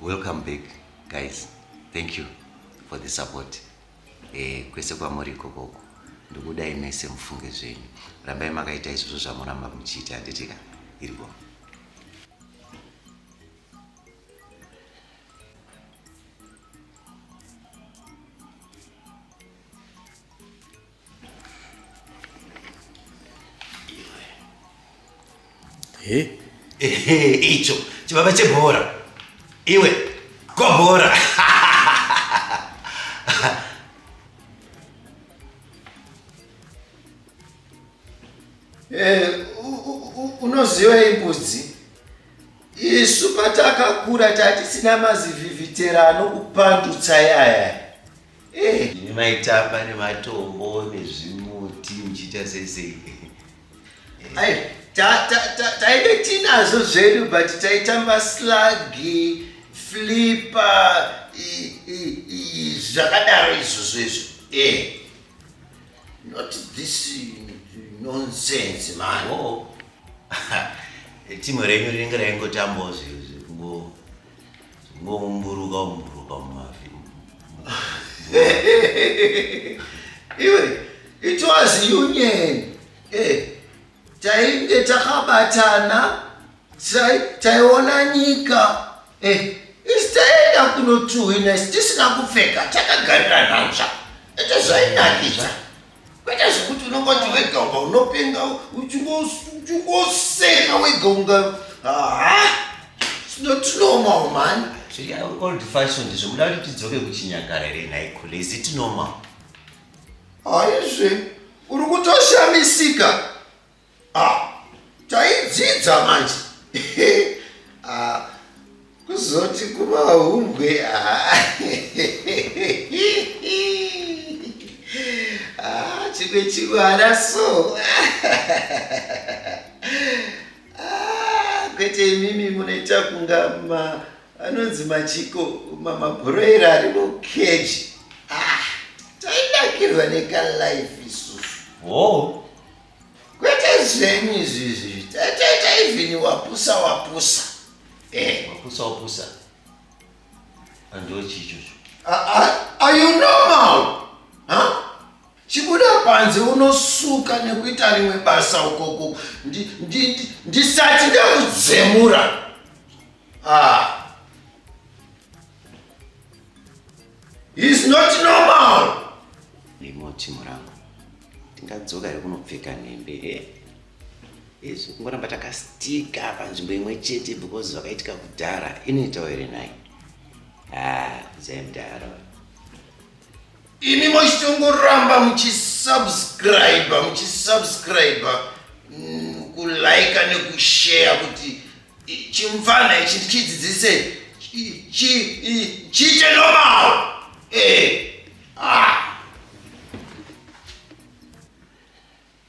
welcome back guys thank you for the support eh, kwese kwamuri ikokoko ndikudai mese mufunge zvenyu rambai makaita izvozvo zvamoramba muchiita handitika iri boma icho chibaba chebhora iwe gobhora Eh, unoziva imbudzi isu patakakura tatisina mazivhivhitera anokupandutsa yaya eh. ini maitamba nematombo nezvimuti muchiita sesei eh. taive tinazo zvedu but taitamba slagi flipa zvakadaro izvozvo izvo Not this nonsense man. Oh. Timu renyu rinenge raingotambawo zvekungoumburuka umburuka mumavi. Iwe, it was union. Eh, tainge takabatana taiona nyika eh, isi taienda kunotuhwina isi tisina kupfeka takagarira nhanzva ete zvainakidza kwete zvekuti unongoti wega uba unopenga uchingoseka wega unga haa sinotinormal mani old fashioned zvekuda kuti tidzoke kuchinyakare renhaikhule is it normal haizve Uri kutoshamisika. Ah, taidzidza manje. ah, kuzoti kumahumbwe. Ah. ah, chimwe chimwana so. ah, kwete imimi munoita kunga ma Anonzi machiko mamabhuroira ari mukeji ah, taidakirwa nekalife isusu wo kwete zvenyu izvizvi tatoita ivhini wapusa wapusa eh. wapusa wapusa andochichocho are you normal huh? chibuda panze unosuka nekuita rimwe basa ukoko ndisati ndakudzemura ndi, ndi, ndi Ah. It's not normal. Rimoti murangu. Ndingadzoka here kunopfeka nhembe he? Eh? Izvi kungoramba takastika panzvimbo imwe chete because vakaitika kudhara inoitawo here nhai? Ah, zemdaro. Imi mochitongoramba muchisubscribe, muchisubscribe, mm, kulaika nekushare kuti chimfana ichi ndichidzidzise chiite normal eh ah